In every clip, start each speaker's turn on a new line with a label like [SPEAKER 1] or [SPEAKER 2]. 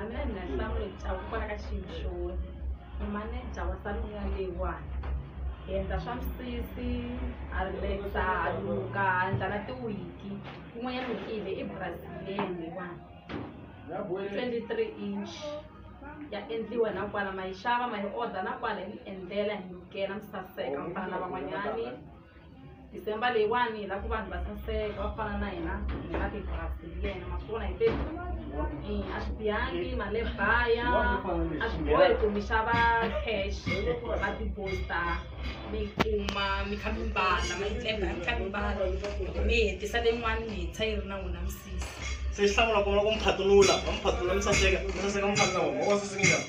[SPEAKER 1] a mina ni na
[SPEAKER 2] nhlamulo hikwalaho kwala ka xilo xona ni maneja wa saluni ya leyiwani hi endla swa misisi a relaxa a luka a endla na tiwiki kun'wanyana wiki hi le i brazilian leyiwani twenty three inch ya endliwa na kwala ma yi xava ma yi order na kwala hi mi endlela hi lukela mi saseka mi fana na van'wanyani December leyiwani hi lava ku vanhu va saseka va fana na hina hi nga ti pasi hi yena ma swi vona hi te Eh, a swi bihangi mali leyi baya a swi bohi ku mi xava cash va tiposta mi yi kuma mi kha mi mbala ma yi tlemba mi kha mi mbala mi hetisa leyin'wani mi hetisa yi ri na wona misisi se xi hlawula ku
[SPEAKER 1] va ku mi phatunula va mi phatunula mi saseka mi saseka mi fana na vona va saseka njhani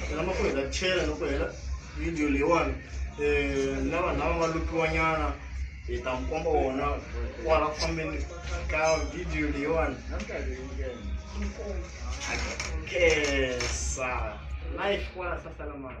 [SPEAKER 1] naswona ma kuheta chela loko hela video leyiwani um na vanhu lava nga lupiwanyana hi ta mi komba wona kwala ku fambeni ka video leyiwani kesa life kwala sasalamana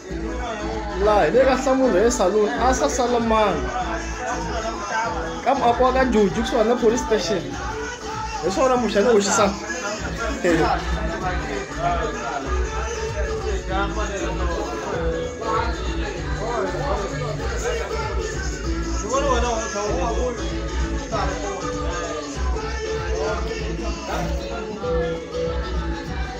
[SPEAKER 3] laha hi le ka nhlamulo he saloon a sa sala mani ka muako wa ka juju kusuhani na police station hi swona muxa ni hoxisa Thank you.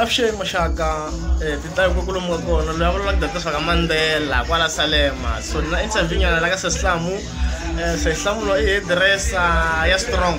[SPEAKER 3] avuxeni muxaka ti ta ku lomu ka kona loyi a vulavulaka ku ta tirhisa ka mandzela kwala salema so ni na interview nyana la ka sesihlamu sesihlamu loyi i hediresa ya strong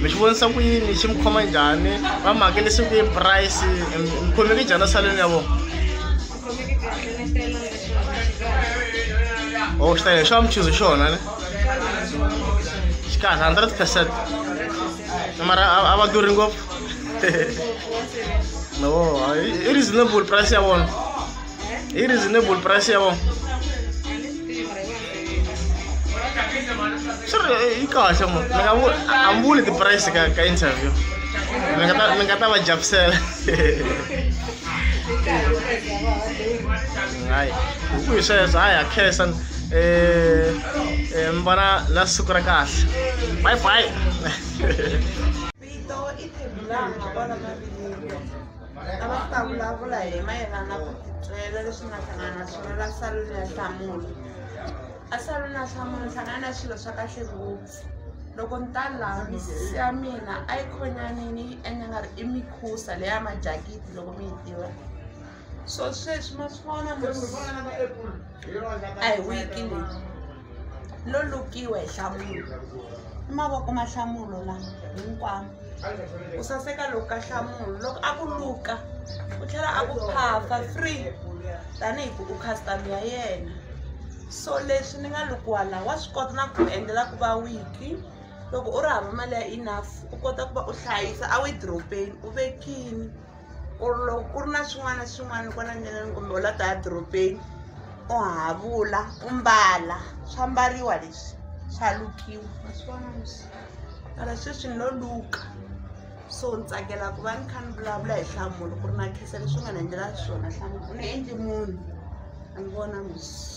[SPEAKER 3] mi xi vonisa ku yini xi mi khoma njhani va mi hakelisi ku yi price mi khomeki njhani saleni ya vona o oh, xi tayile xo va mi chuze xona ne xi kahle hundred percent mara a va durhi ngopfu no i reasonable price ya vona i reasonable price ya vona swi ri yi kahle mo ni nga vu- a ni vuli ti-price ka ka interview mi nga ta mi nga ta va javisela hayi hi ku hi sweswo hayi ha khensa um mi vona na siku ra kahle bye bye
[SPEAKER 4] Vito i khumbi laha nga vona mavileyo lava ku ta vulavula hi mayelana na ku titwela leswi nga hlangana na swona la saluni ya hlamula a saluni ya hlamula hlangana na swilo swa kahle ngopfu loko ni ta laha misisi ya mina a yi khonyanini yi endla nga ri i mikhusa leya majakiti loko mi yi tiva so sweswi ma swi vona a hi wiki leyi lo lukiwa hi hlamulo i mavoko ma hlamulo la hinkwamo ku saseka loko ka hlamulo loko a ku luka u tlhela a ku phafa free tanihi ku u customer ya yena so leswi ni nga lukiwa laha wa swi kota na ku endlela ku va wiki loko u ri hava mali ya enough u kota ku va u hlayisa a wi dropeni u vekini ku ri loko ku ri na swin'wana na swin'wana kwala ndleleni kumbe u la ta ya dorobeni u havula u mbala swa mbariwa leswi swa lukiwa maswona leswi mara sweswi ni lo luka so ni tsakela ku va ni kha ni vulavula hi hlamulo ku ri na khesa leswi nga ni endlela swona hlamulo u ni endli munhu a ni vona musi